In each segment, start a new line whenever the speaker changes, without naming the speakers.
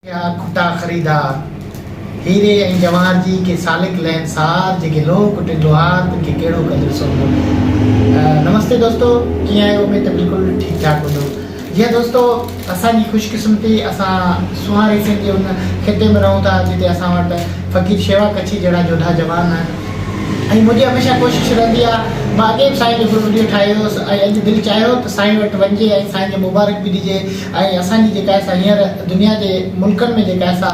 اها کٽا خريدار، هيري ۽ جواهر جي ڪي سالڪ لين سار، جيڪي لوهه ڪٽين لوهار، تن کي ڪهڙو قدر سونهون ملي. نمستي دوستو ڪيئن آهيو اميد ته بلڪل ٺيڪ ٺاڪ هوندؤ جي ها دوستو اسان جي خوش قسمتي اسان سونهان ريسين جي ان خطي ۾ رهون ٿا جتي اسان وٽ فقير شيوا ڪڇي جهڙا جوڌا جوان آهن ۽ منهنجي هميشه ڪوشش رهندي آ مان اڳي به سائين جو هڪڙو وڊيو ٺاهيو هوس ۽ اڄ دل چاهيو ته سائين وٽ وڃجي ۽ سائين جي مبارڪ به ڏجي ۽ اسان جي جيڪا سا هينئر دنيا جي ملڪن ۾ جيڪا سا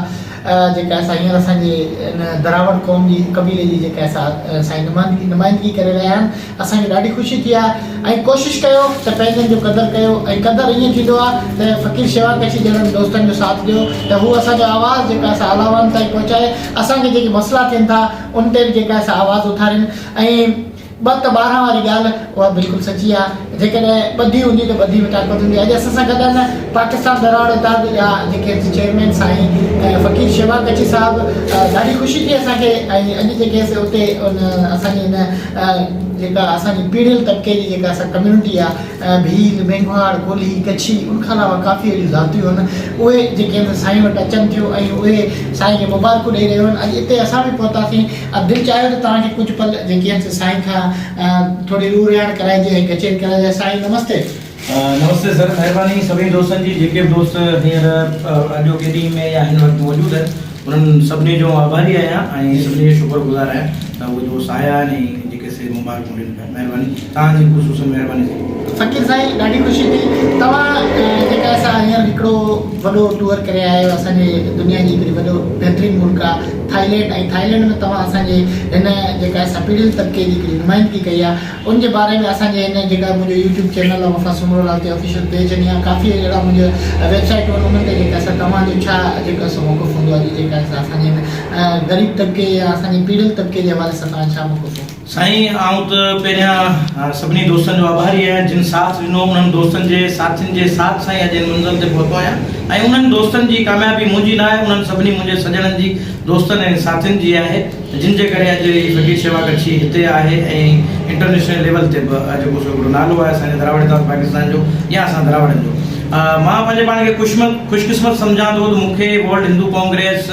جيڪا سا هينئر اسان جي ان دراوڙ قوم جي قبيلي جي جيڪا سا سائين نمائندگي نمائندگي ڪري رهيا آهن اسان کي ڏاڍي خوشي ٿي آهي ۽ ڪوشش ڪيو ته پنهنجن جو قدر ڪيو ۽ قدر ائين ٿيندو آهي ته فقير شيوا ڪڇي جهڙن دوستن جو ساٿ ڏيو ته هو اسان جو آواز جيڪا سا اعليٰ وارن تائين پهچائي اسان کي جيڪي مسئلا ٿين ٿا ان تي به جيڪا سا آواز اٿارين ۽ ٻه ته ٻارهن واري ڳالهه اها بلڪل سچي آهي جيڪڏهن ٻڌي هوندي ته ٻڌي وٽان ڪوتي هوندي اڄ اسان سان گڏ آهن پاڪستان ٻهراڙ اتحاد جا جيڪي چيئرمين سائين فقير شيوا ڪڇي صاحب ڏاڍي خوشي ٿي اسان کي ۽ اڄ جيڪي اتي ان اسان جي ان جيڪا اسان جي پيڙهيل طبقي جي جيڪا اسان ڪميونٽي آهي ڀيل مينگهواڙ ڪولهي ڪڇي ان کان علاوه ڪافي اهڙيون ذاتيون آهن اهي جيڪي سائين وٽ اچن ٿيون ۽ اهي سائين کي مبارڪون ڏئي رهيون آهن اڄ اتي اسان به پهتاسين اب دل چاهيو ته توهان کي ڪجهه پل جيڪي آهن سي سائين کان ٿوري روح رياڻ ڪرائجي ۽ ڪچهري ڪرڻ لاء سائين نمستي. نمستي سر
مهرباني سڀني دوستن جي جيڪي به دوست هينئر اڄوڪي ڏينهن ۾ يا هن وقت موجود آهن انهن سڀني جو آڀاري آهيان ۽ سڀني جو شڪر گذار آهيان ته اهي دوست آيا آهن ۽ جيڪي سي مبارڪون ڏني. مهرباني توهان جي خصوصن مهرباني ٿي ويندي. فقير سائين
ڏاڍي خوشي ٿي توهان جيڪا اسان هينئر هڪڙو وڏو ٽوئر ڪري آيا آهيو اسان جي دنيا جي هڪڙي وڏو بهترين ملڪ آ ٿائلينڊ ۽ ٿائلينڊ ۾ توهان اسان جي هن جيڪا اسان پيڙهيل طبقي جي هڪڙي نمائندگي ڪئي آ ان جي باري ۾ اسان جي هن جيڪا منهنجو يوٽيوب چينل آ وفا سومرو لال تي آفيشل پيج ۽ يا ڪافي اهڙا منهنجا ويب سائيٽون آهن انهن تي جيڪا اسان توهان جو ڇا جيڪا سو موقف هوندو آ جي جيڪا اسان جي هن غريب طبقي يا اسان جي پيڙهيل طبقي جي حوالي سان توهان ڇا موقف هوندو. سائين آئون ته
پهريان سڀني دوستن جو آڀاري آهيان جن ساٿ ڏنو انهن دوستن جي ساٿين جي ساٿ سان ئي اڄ هن منزل تي پهتو آهيان ۽ انهن دوستن جي ڪاميابي منهنجي نه آهي انهن سڀني منهنجي سڄڻن جي دوستن ۽ ساٿين جي آهي جن جي ڪري اڄ هي فقير شيوا ڪڇي هتي آهي ۽ انٽرنيشنل ليول تي به جيڪو سو هڪڙو نالو آهي اسان جي دراوڙتاس پاڪستان جو يا اسان دراوڙن جو مان پنهنجي پاڻ کي خوش خوش قسمت سمجهان ٿو ته مون کي ورلڊ هندو ڪانگريس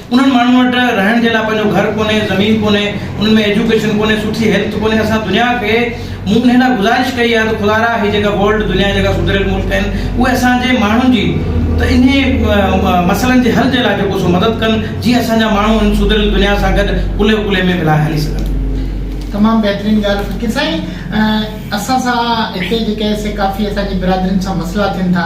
انهن ماڻهن وٽ رهڻ جي لاء پنهنجو گهر ڪونهي، زمين ڪونهي، انهن ۾ ايجوڪيشن ڪونهي، سٺي هيلٿ ڪونهي، اسان دنيا کي مون انهي لاء گذارش ڪئي آهي ته خدارا هي جيڪا ورلڊ دنيا جيڪا سڌريل ملڪ آهن اهي اسان جي ماڻهن جي ته انهي مسئلن جي حل جي لاء جيڪو سو مدد ڪن جيئن اسان جا ماڻهو هن سڌريل دنيا سان گڏ ڪلهي ڪلهي ۾ ملائي هلي سگهن. تمام
بهترين ڳالهه فقير سائين اسان سان هتي جيڪي سي ڪافي اسان جي برادرين سان مسئلا ٿين ٿا.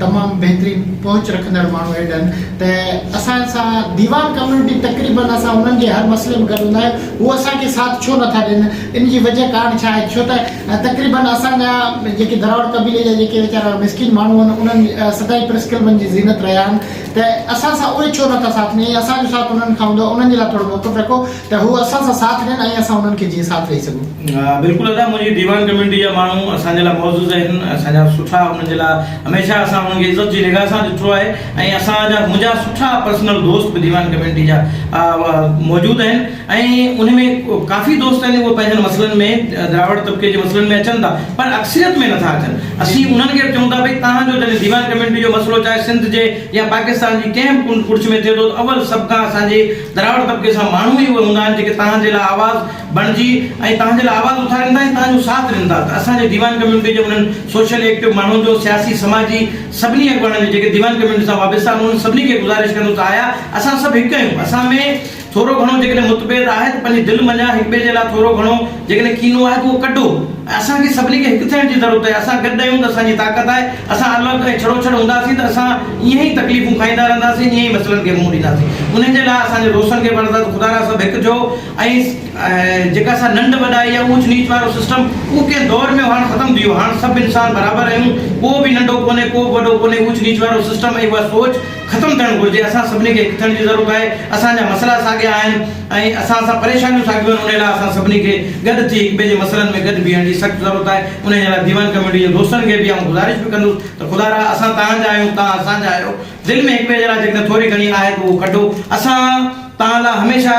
تمام بهترين پهچ رکندڙ ماڻهو هيڊن ته اسان سان ديوان ڪميونٽي تقريبن اسان انهن جي هر مسئلي ۾ گڏ هوندا آهيون هو اسان کي ساٿ ڇو نٿا ڏين ان جي وجه ڪارڻ ڇا آهي ڇو ته تقريبن اسان جا جيڪي دراوڙ قبيلي جا جيڪي ويچارا مسڪين ماڻهو آهن انهن سدائين پريس ڪلبن جي زينت رهيا آهن ته اسان سان اهي ڇو نٿا ساٿ ڏين يا اسان جو ساٿ انهن کان هوندو آهي انهن جي لاء ٿورو موقف رکو ته هو اسان سان ساٿ ڏين ۽ اسان انهن کي جيئن ساٿ ڏئي سگهون. بلڪل ادا منهنجي
ديوان ڪميونٽي جا ماڻهو اسان جي لاء معزز آهن اسان جا سٺا انهن جي لاء هميشه اسان انهن کي عزت جي نگاهه سان ڏٺو آهي ۽ اسان جا منهنجا سٺا پرسنل دوست به ديوان ڪميونٽي جا موجود آهن ۽ ان ۾ ڪافي دوست آهن اهي پنهنجن مسئلن ۾ دراوڙ طبقي جي مسئلن ۾ اچن ٿا پر اڪثريت ۾ نٿا اچن اسين انهن کي به چئون ٿا ڀئي توهان جو جڏهن ديوان ڪميونٽي جو مسئلو چاهي سنڌ جي يا پاڪستان جي ڪنهن به ڪنڊ ڪڙڇ ۾ ٿئي ٿو ته اول سڀ کان اسان جي دراوڙ طبقي سان ماڻهو ئي اهي هوندا آهن جيڪي توهان جي لاء آواز بڻجي ۽ توهان جي لاء آواز اٿارين ٿا ۽ توهان جو ساٿ ڏين ٿا ته اسان جي ديوان ڪميونٽي جي انهن سوشل ايڪٽو ماڻهن جو سياسي سماجي سڀني اڳواڻن جي جيڪي ديوان ڪميونٽي سان وابسته آهن انهن سڀني کي گذارش ڪندس ته آيا اسان سڀ هڪ آهيون اسان ۾ ٿورو گهڻو جيڪڏهن متڀيد آهي ته پنهنجي دل منجهان هڪ ٻئي جي لاء ٿورو گهڻو جيڪڏهن ڪينو آهي ته اهو ڪڍو ۽ اسان کي سڀني کي هڪ ٿيڻ جي ضرورت آهي، اسان گڏ آهيون ته اسان جي طاقت آهي، اسان الوڪ ۽ ڇڙو ڇڙ هونداسين ته اسان ائين ئي تڪليفون کائيندا رهنداسين ائين ئي مسئلن کي منهن ڏينداسين، انهن جي لاء اسان جي روسن کي پڻ ذات خدارا سڀ هڪ ٿيو ۽ جيڪا سا ننڊ وڏائي يا اوچ نيچ وارو سسٽم اهو ڪنهن دور ۾ هو هاڻ ختم ٿي ويو، هاڻ سڀ انسان برابر آهيون ڪو به ننڊو ڪونهي ڪو به وڏو ڪونهي اوچ نيچ وارو سسٽم ۽ اها سوچ ختم ٿيڻ گهرجي اسان سڀني کي هڪٿيڻ جي ضرورت آهي اسان جا مسئلا ساڳيا آهن ۽ اسان سان پريشانيون ساڳيون آهن انهي لاء اسان سڀني کي گڏ ٿي هڪ ٻئي جي مسئلن ۾ گڏ بيهڻ جي سخت ضرورت آهي انهي جي لاء ديوان ڪميٽي جي دوستن کي به آئون گذارش به ڪندس ته خدا را اسان توهان جا آهيون توهان اسان جا آهيو دل ۾ هڪ ٻئي جي لاء جيڪڏهن ٿوري گهڻي آهي ته اهو ڪڍو اسان توهان لاء هميشه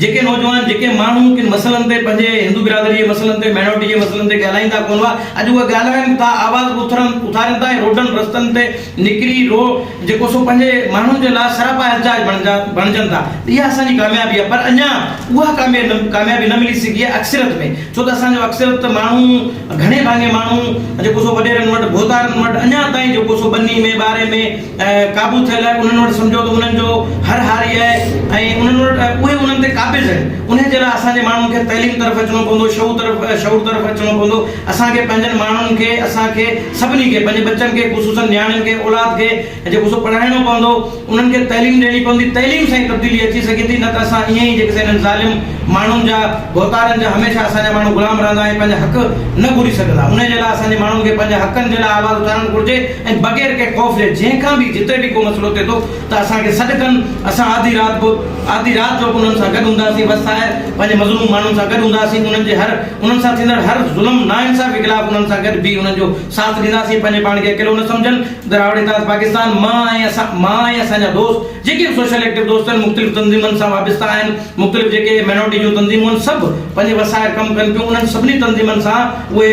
جيڪي نوجوان، جيڪي ماڻهو ڪن مسئلن تي پنهنجي هندو برادري جي مسئلن تي، مائنارٽي جي مسئلن تي ڳالهائيندا ڪونه هئا، اڄ اهي ڳالهائين ٿا، آواز اٿارين ٿا ۽ روڊن رستن تي نڪري رو جيڪو سو پنهنجي ماڻهن جي لاء سراپا احتجاج بڻجا بڻجن ٿا ته اها اسان جي ڪاميابي آهي پر اڃا اها ڪاميابي نه ملي سگهي آهي اڪثريت ۾ ڇو ته اسان جو اڪثريت ماڻهو گهڻي ڀاڱي ماڻهو جيڪو سو وڏيرن وٽ ڀوتارن وٽ اڃا تائين جيڪو سو ٻني ۾ ٻاري ۾. قابو ٿيل انهن وٽ سمجهو ته انهن جو هر هاري آهي ۽ انهن وٽ اهي انهن تي قابض آهن انهي جي لاء اسان جي ماڻهن کي تعليم طرف اچڻو پوندو شعور طرف شعور طرف اچڻو پوندو اسان کي پنهنجن ماڻهن کي اسان کي سڀني کي پنهنجي ٻچن کي خصوصا نياڻين کي اولاد کي جيڪو سو پڙهائڻو پوندو انهن کي تعليم ڏيڻي پوندي تعليم سان ئي تبديلي اچي سگهي ٿي نه ته اسان ائين ئي جيڪو سو انهن ظالم ماڻهن جا ڀوتارن جا هميشه اسان جا ماڻهو غلام رهندا ۽ پنهنجا حق نه گهري سگهندا انهي جي لاء اسان جي ماڻهن کي پنهنجي حقن جي لاء آواز اٿارڻ گهرجي ۽ بغير ڪنهن خوف جي جنهن کان به جتي به ڪو مسئلو ٿئي ٿو ته اسان کي سڏ ڪن اسان آڌي رات به آڌي رات جو به انهن سان گڏ هونداسين بس آهر پنهنجي مظلوم ماڻهن سان گڏ هونداسين انهن جي هر انهن سان ٿيندڙ هر ظلم ناانصافي خلاف انهن سان گڏ بيهي انهن جو ساٿ ڏينداسين پنهنجي پاڻ کي اڪيلو نه سمجهن دراوڙ اتحاد پاڪستان مان ۽ اسان مان ۽ اسان جا دوست جيڪي به سوشل ايڪٽو دوست آهن مختلف تنظيمن سان وابسته آهن مختلف جيڪي مائنورٽي جون تنظيمون آهن سڀ پنهنجي وس آهر ڪم ڪن ٿيون انهن سڀني تنظيمن سان اهي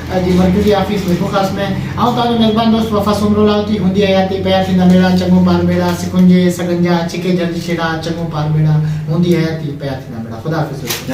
جي مرڪزي آفيس ميپوخاص ۾ آئون تهان جو ميزبان دوست وفا سومرو لاهوتي هوندي حياتي پيا ٿيندا ميڙا چڱو پار ميڙا سڪنجي سڳنجا ڇڪي جهرج ڇيڙا چڱو پار ميڙا هوندي حياتي پيا ٿيندا ميڙا خدا حافظ دوستو.